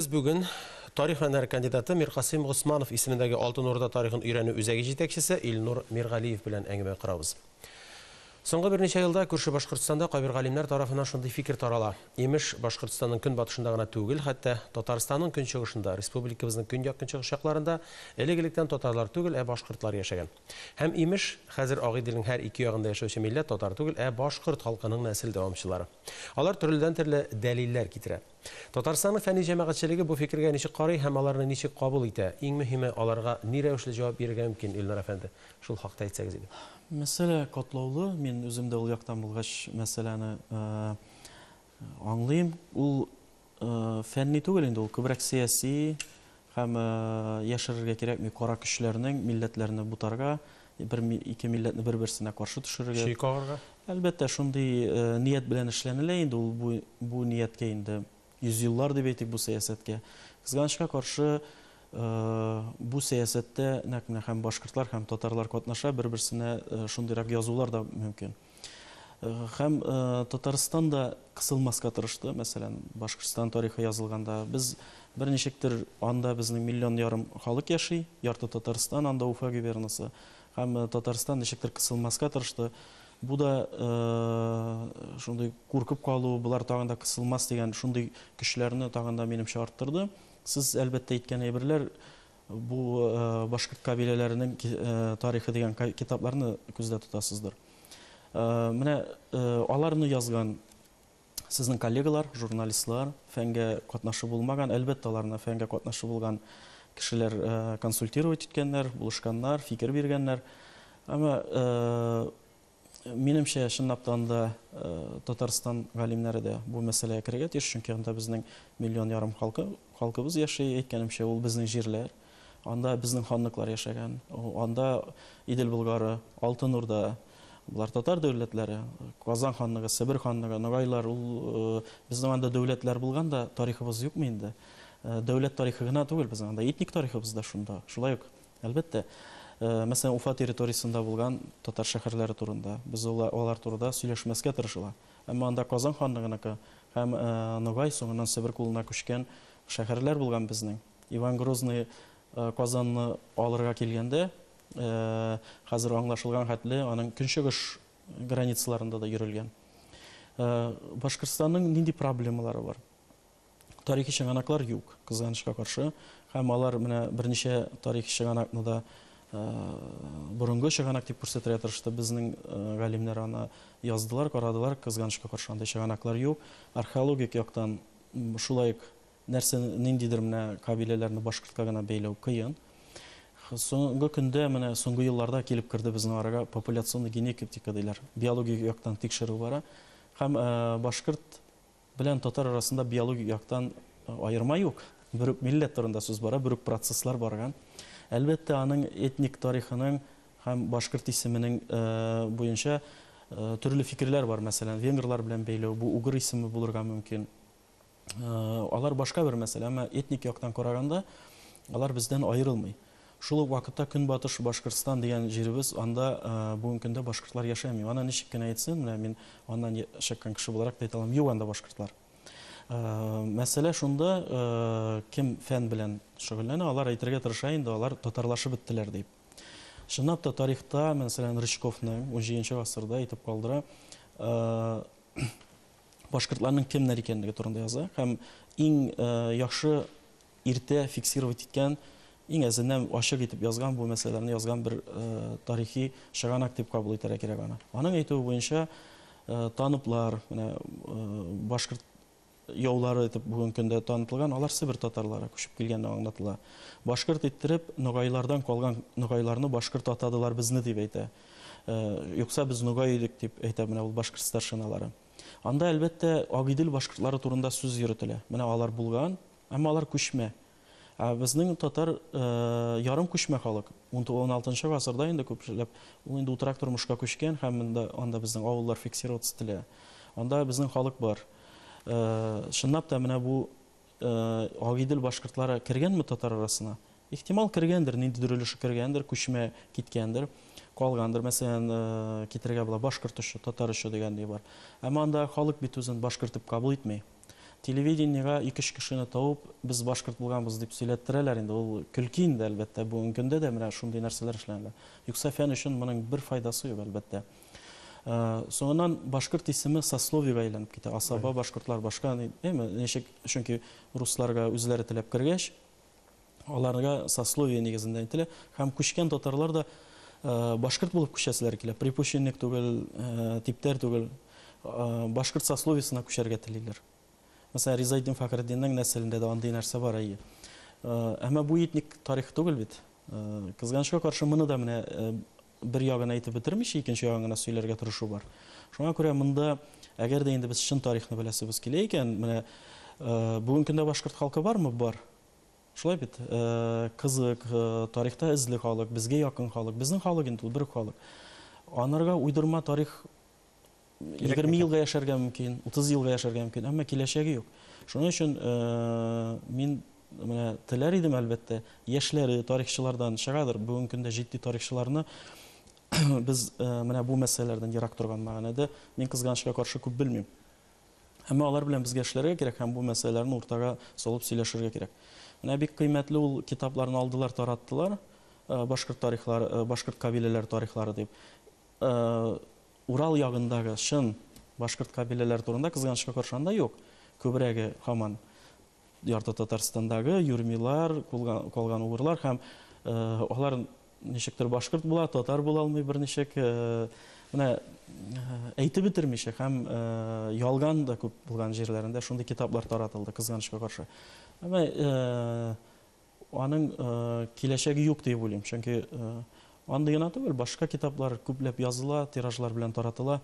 Без бүген тарих фәннәре кандидаты Миркасыйм Госманов исемендәге Алтын Урда тарихын өйрәнү үзәге җитәкчесе Илнур Миргалиев белән әңгәмә корабыз. Соңгы берничә елда күрше Башкортстанда кайбер галимнәр тарафыннан шундый фикер тарала, имеш, Башкортстанның көнбатышында гына түгел, хәтта Татарстанның көнчыгышында, республикабызның көньяк-көнчыгыш якларында элек-электән татарлар түгел, ә башкортлар яшәгән. Һәм, имеш, хәзер Ак Иделнең һәр ике ягында яшәүче милләт татар түгел, ә башкорт халкының нәсел дәвамчылары. Алар төрледән-төрле дәлилләр китерә. Татарстанның фәнни җәмәгатьчелеге бу фикергә ничек карый һәм аларны ничек кабул итә? Иң мөһиме, аларга ни рәвешле җавап бирергә мөмкин, Илнар әфәнде? Шул хакта әйтсәгез иде. Мәсьәлә катлаулы, мин үзем дә ул яктан булгач мәсьәләне аңлыйм. Ул фәнни түгел инде, ул күбрәк сәяси, Һәм яшерергә кирәкми, кара көчләрнең милләтләрне бутарга, бер ике милләтне бер-берсенә каршы төшерергә. Чөй кагарга? Әлбәттә, шундый ният белән эшләнелә инде ул бу, бу нияткә инде йөзьеллар дип әйтик бу сәясәткә. Кызганычка каршы, бу сәясәттә нәкъ менә һәм башкортлар, һәм татарлар катнаша, бер-берсенә шундыйрак язулар да мөмкин. Һәм Татарстан да кысылмаска тырышты, мәсәлән, Башкортстан тарихы язылганда. Без берничектер анда безнең миллион ярым халык яши, ярты Татарстан анда Уфа губернасы. Һәм Татарстан ничектер кысылмаска тырышты. Бу да шундый куркып калу, болар тагын да кысылмас дигән шундый көчләрне тагын да минемчә арттырды. Сез әлбәттә әйткән әйберләр Бу башкорт кабиләләренең тарихы дигән китапларны күздә тотасыздыр. Менә аларны язган сезнең коллегалар, журналистлар, фәнгә катнашы булмаган, әлбәттә, аларны фәнгә катнашы булган кешеләр консультировать иткәннәр, булышканнар, фикер биргәннәр. Әмма Минемчә, чынлаптан да, Татарстан галимнәре дә бу мәсьәләгә керергә тиеш, чөнки анда безнең миллион ярым халкы, халкыбыз яши, әйткәнемчә, ул безнең җирләр. Анда безнең ханлыклар яшәгән. Анда Идел Болгары, Алтын Урда, болар татар дәүләтләре, Казан ханлыгы, Себер ханлыгы, Ногайлар, ул безнең анда дәүләтләр булган да, тарихыбыз юкмы инде? Дәүләт тарихы гына түгел, безнең анда этник тарихыбыз да шунда. Шулай ук Әлбәттә. Мәсәлән, Уфа территориясендә булган татар шәһәрләре турында, без алар турыда сөйләшмәскә тырышыла. Әмма анда Казан ханлыгыныкы һәм Ногай, соңыннан Себер кулына күчкән шәһәрләр булган безнең. Иван Грозный Казанны алырга килгәндә, хәзер аңлашылган хәтле, аның көнчыгыш границаларында да йөрелгән. Башкортстанның нинди проблемалары бар? Тарихи чыганаклар юк, кызганычка каршы. Һәм алар менә берничә тарихи чыганакны да борынгы чыганак дип күрсәтергә тырышты. Безнең галимнәр аны яздылар, карадылар, кызганычка каршы андый чыганаклар юк. Археологик яктан шулай ук нәрсә ниндидер менә кабиләләрне башкортка гына бәйләү кыен. Соңгы көндә менә соңгы елларда килеп керде безнең арага популяционный генетика диләр. Биологик яктан тикшерү бара. Һәм башкорт белән татар арасында биологик яктан аерма юк. Бер үк милләт турында сүз бара, бер үк процесслар барган. Әлбәттә, аның этник тарихының һәм башкорт исеменең буенча төрле фикерләр бар. Мәсәлән, венгрлар белән бәйләү, бу угыр исеме булырга мөмкин. Алар башка бер мәсьәлә, әмма этник яктан караганда, алар бездән аерылмый. Шул ук вакытта Көнбатыш Башкортстан дигән җиребез, анда бүгенге көндә башкортлар яшәми. Аны ничек кенә әйтсен, менә мин аннан чыккан кеше буларак та әйтә алам, юк анда башкортлар. Мәсьәлә шунда, кем фән белән шөгыльләнә, алар әйтергә тырыша инде, алар татарлашып беттеләр дип. Чынлап та тарихта, мәсәлән, Рычковның унҗиденче гасырда әйтеп калдыра, башкортларның кемнәр икәнлеге турында яза һәм иң яхшы Иртә фиксировать иткән, иң әзеннән ачык итеп язган бу мәсьәләләрне язган бер тарихи чыганак дип кабул итәргә кирәк аны. Аның әйтүе буенча, таныплар, менә башкорт яулары итеп бүгенге көндә танытылган, алар Себер татарлары күчеп килгәнне аңлатыла. Башкорт иттереп, ногайлардан калган ногайларны башкорт атадылар безне дип әйтә. Юкса без ногай идек дип әйтә менә ул башкорт старшиналары. Анда әлбәттә Агыйдел башкортлары турында сүз йөртелә. Менә алар булган, Әмма алар күчмә. Ә безнең татар ярым күчмә халык. Уналтынчы гасырда инде күпләп ул инде утрак тормышка күчкән һәм анда безнең авыллар фиксироваться ителә. Анда безнең халык бар. Чынлап та менә бу Агыйдел башкортлары кергәнме татар арасына? Ихтимал кергәндер, ниндидер өлеше кергәндер, күчмә киткәндер, калгандыр. Мәсәлән, китерергә була башкорт очы, татар очы дигән ни бар. Әмма андагы халык бит үзен башкорт дип кабул итми. Телевидениега ике-өч кешене табып, без башкорт булганбыз дип сөйләттерәләр инде. Ул көлке инде, әлбәттә, бүгенге көндә дә менә шундый нәрсәләр эшләнелә. Юкса фән өчен моның бер файдасы юк, әлбәттә. Соңыннан башкорт исеме сословиега әйләнеп китә. Асаба, башкортлар, башка, әйме, ничек, чөнки русларга үзләре теләп кергәч, Аларга сословие нигезендә әйтелә. Һәм күчкән татарлар да башкорт булып күчәселәре килә. Припущенник түгел, типтәр түгел. Башкорт сословиесына күчәргә телиләр. Мәсәлән, Ризаэддин Фәхреддиннең нәселендә дә андый нәрсә бар, әйе. Әмма бу этник тарих түгел бит. Кызганычка каршы, моны да менә бер ягын әйтеп бетермичә, икенче ягын гына сөйләргә тырышу бар. Шуңа күрә монда, әгәр дә инде без чын тарихны беләсебез килә икән, менә бүгенге көндә башкорт халкы бармы? Бар. Шулай бит, кызык, тарихта эзле халык, безгә якын халык. Безнең халык инде ул, бер үк халык. Анарга уйдырма тарих егерме елга яшәргә мөмкин, утыз елга яшәргә мөмкин, әмма киләчәге юк. Шуның өчен мин менә теләр идем, әлбәттә, яшьләре тарихчылардан чыгадыр, бүгенге көндә җитди тарихчыларны без менә бу мәсьәләләрдән ерак торган мәгънәдә, мин, кызганычка каршы, күп белмим. Әмма алар белән безгә эшләргә кирәк һәм бу мәсьәләләрне уртага салып сөйләшергә кирәк. Менә бик кыйммәтле ул китапларны алдылар, тараттылар, Башкорт тарихлары, башкорт кабиләләре тарихлары дип. Урал ягындагы чын башкорт кабиләләре турында, кызганычка каршы, анда юк. Күбрәге һаман Ярты Татарстандагы юрмилар, калган угырлар һәм алар ничектер башкорт була, татар була алмый берничек. Менә әйтеп бетермичә һәм ялган да күп булган җирләрендә шундый китаплар таратылды, кызганычка каршы. Әмма Аның киләчәге юк диеп уйлыйм, чөнки андый гына түгел, башка китаплар күпләп языла, тиражлар белән таратыла.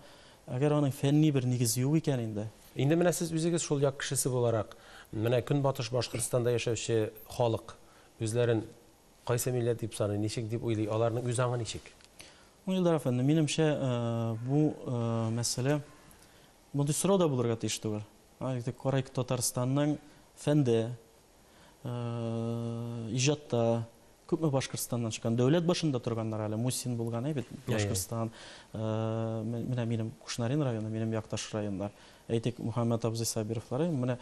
Әгәр аның фәнни бер нигезе юк икән инде. Инде менә сез үзегез шул як кешесе буларак, менә Көнбатыш Башкортстанда яшәүче халык үзләрен кайсы милләт дип саный, ничек дип уйлый, аларның үз аңы ничек? Ну, Илдар әфәнде, минемчә, бу мәсьәлә, мондый сорау да булырга тиеш түгел. Корыйк Татарстанның фәндә, иҗатта күпме Башкортстаннан чыккан, дәүләт башында торганнар әле, Мусин булган әй бит, Башкортстан, менә минем Кушнарин районы, минем якташ районнар, әйтик, Мухаммәт абзый Сабировлар, менә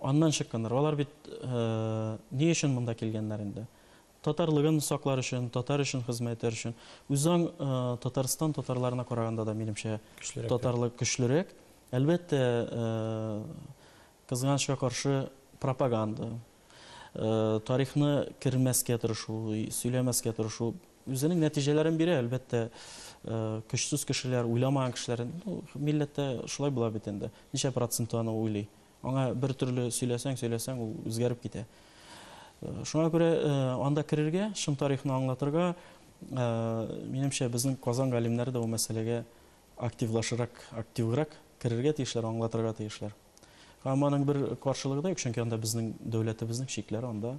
аннан чыкканнар, алар бит ни өчен монда килгәннәр инде? Татарлыгын саклар өчен, татар өчен хезмәт итәр өчен. Үзаң Татарстан татарларына караганда да, минемчә, татарлык көчлерәк. Әлбәттә, Кызганычка каршы, пропаганда, тарихны кермәскә тырышу, сөйләмәскә тырышу үзенең нәтиҗәләрен бирә, әлбәттә, көчсез кешеләр, уйламаган кешеләр, ну, милләттә шулай була бит инде, ничә проценты аны уйлый? Аңа бер төрле сөйләсәң, сөйләсәң, ул үзгәреп китә. Шуңа күрә анда керергә, чын тарихны аңлатырга, минемчә, безнең Казан галимнәре дә ул мәсьәләгә активлашырак, активрак керергә тиешләр, аңлатырга тиешләр. Һәм аның бер каршылыгы да юк, чөнки анда безнең дәүләтебезнең чикләре анда.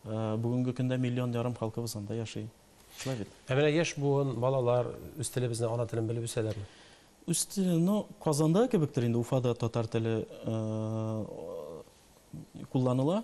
Бүгенге көндә миллион ярым халкыбыз анда яши. Шулай бит? Ә менә яшь буын, балалар үз телебезне, ана телен белеп үсәләрме? Үз телен, ну, Казанда кебектер инде, Уфада татар теле кулланыла.